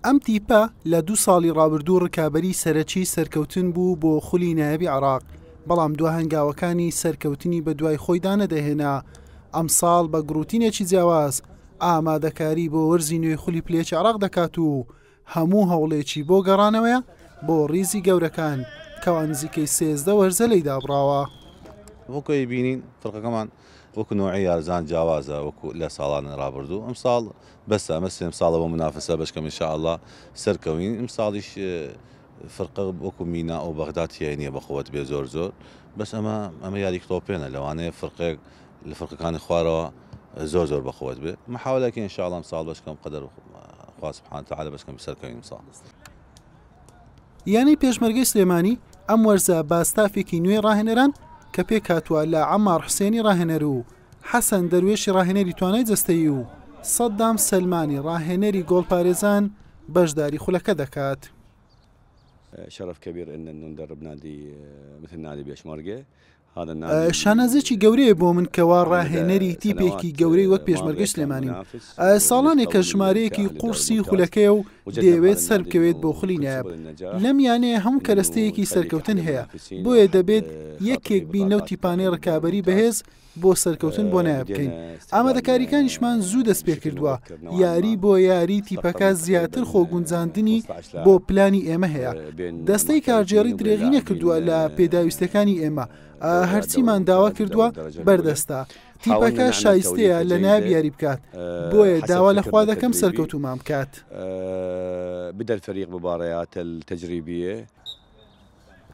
ئەم تیپە لە دوو ساڵی ڕابردوو ڕکابەری سەرەکی سەرکەوتن بوو بۆ خولی نایەبی عراق بەڵام دو هەنگاوەکانی سەرکەوتنی بە دوای خۆیدا نەدەهێنا ئەمساڵ بە گڕوتینێکی جیاواز ئامادەکاری بۆ وەرزی نوێی خولی پلێچ عراق دەکات و هەموو هەوڵێکی بۆ گەڕانەوەیە بۆ ریزی گەورەکان کەوا نزیکەی سێزدە وەرزە لێی دابڕاوە. وەکو ئەیبینین فەرقەکەمان وەکو نەوعی یارزان جیاوازە وەکو لە ساڵانی رابردوو ئەمساڵ بەسە ئەمە سێم ساڵە بۆ منافەسە بەشکەم ان شاء اللە سەرکەوین ئەمساڵیش فرقە وەکو مینا و بەغدا تیای نیە بەقوەت بێ زۆر زۆر بەس ئەمە ئەمە یاریک تۆپێنە لەوانەیە فرقەیەک لە فڕقەکانی خوارەوە زۆر زۆر بەقوەت بێ محاولەکە ان شاء الله امسال بەش کەم قەدەر خوا سبحانه تعالى بەش کەم سەرکەوین امسال یانەی پێشمەرگەی سلێمانی ئەم وەرزە باستافێکی نوێی ڕاهێنەران کە پێکاتوە لە ئەمار حوسێنی ڕاهێنەر و حەسەن دەروێشی ڕاهێنەری توانای جستەیی و سەددام سلمانی ڕاهێنەری گۆڵپارێزان بەشداری خولەکە دەکات. شرف كبير ان نندرب نادي مثل نادي بيشمرقه شانازییەکی گەورەیە بۆ من کەوا ڕاهێنەری تیپێکی گەورەی وەک پێشمەرگەی سلێمانیم. ساڵانێکە ژمارەیەکی قوڕسی خولەکەیە و دەیەوێت سەربکەوێت بۆ خولی نایاب. لەم یانەیە هەموو کەرەستەیەکی سەرکەوتن هەیە، بۆیە دەبێت یەکێک بین لەو تیپانەی ڕکابەری بەهێز بۆ سەرکەوتن بۆ نایاب بکەین. ئامادەکاریکانیشمان زوو دەستپێکردووە، یاری بۆ یاری تیپەکە زیاتر خۆگونجاندنی بۆ پلانی ئێمە هەیە، دەستەی کارگێڕی درێغی نەکردووە لە پێداویستیەکانی ئێمە، هەرچیمان داوا کردووە بەردەستە، تیپەکە شایستەیە لە نایاب یاری بکات، بۆیە داوا لە خوا دەکەم سەرکەوتوومان بکات.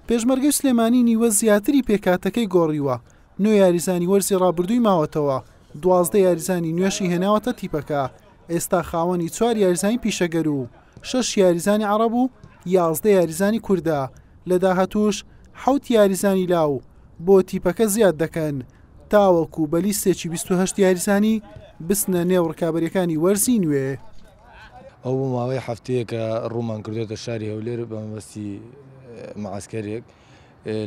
پێشمەرگەی سلێمانی نیوە زیاتری پێکهاتەکەی گۆڕیوە، نۆ یاریزانی وەرزی رابردووی ماوەتەوە، دوازدە یاریزانی نوێشی هێناوەتە تیپەکە، ئێستا خاوەنی چوار یاریزانی پیشەگەر و شەش یاریزانی عەڕەب و یازدە یاریزانی کوردە، لە داهاتووش حەوت یاریزانی لاو بۆ تیپەکە زیاد دەکەن، تاوەکو بە لیستێکی بیست و هەشت یاریزانی بچنە نێو رکابەرییەکانی وەرزی نوێ. ئەو بۆ ماوەی هەفتەیەکە ڕوومان کردوێتە شاری هەولێر بەمەبەستی معسکەرێک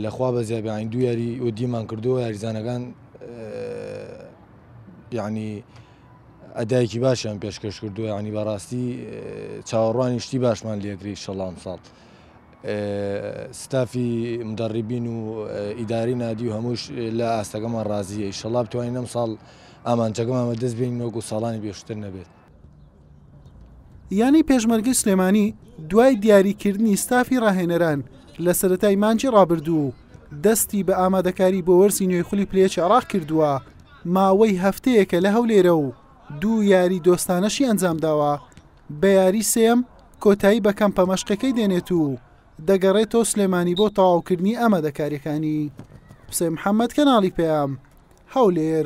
لە خوا بە زیابیانی دو یاری و دیمان کردو یاریزانەکان یعنی ئەدایکی باشیان پێشکەش کردو ینی بەڕاستی چاوەڕوانی شتی باشمان لەکری شەڵام ساڵ ستافی مدەڕیبین و ئیداری نادی و هەمووش لە ئاستەکەمان ڕازیە شەڵاب توانین ئەم ساڵ ئامانجەکەمان بەدەست بین وەکو ساڵانی بێشتر نەبێت یانەی پێشمەرگەی سلێمانی دوای دیاریکردنی ستافی ڕاهێنەران لە سەتای مانجی ڕابردوو و دەستی بە ئامادەکاری بۆ وەرسی نوێی خولی پلەیەکی عراق کردووە ماوەی هەفتەیەکە لە هەولێرە و دوو یاری دۆستانەشی ئەنجام داوە بە یاری سێم کۆتایی بە کەمپە مەشقەکەی دێنێت و دەگەڕێتەوە سلێمانی بۆ تەواوکردنی ئامادەکاریەکانی حسێن محەممەد کەناڵی پەیام هەولێر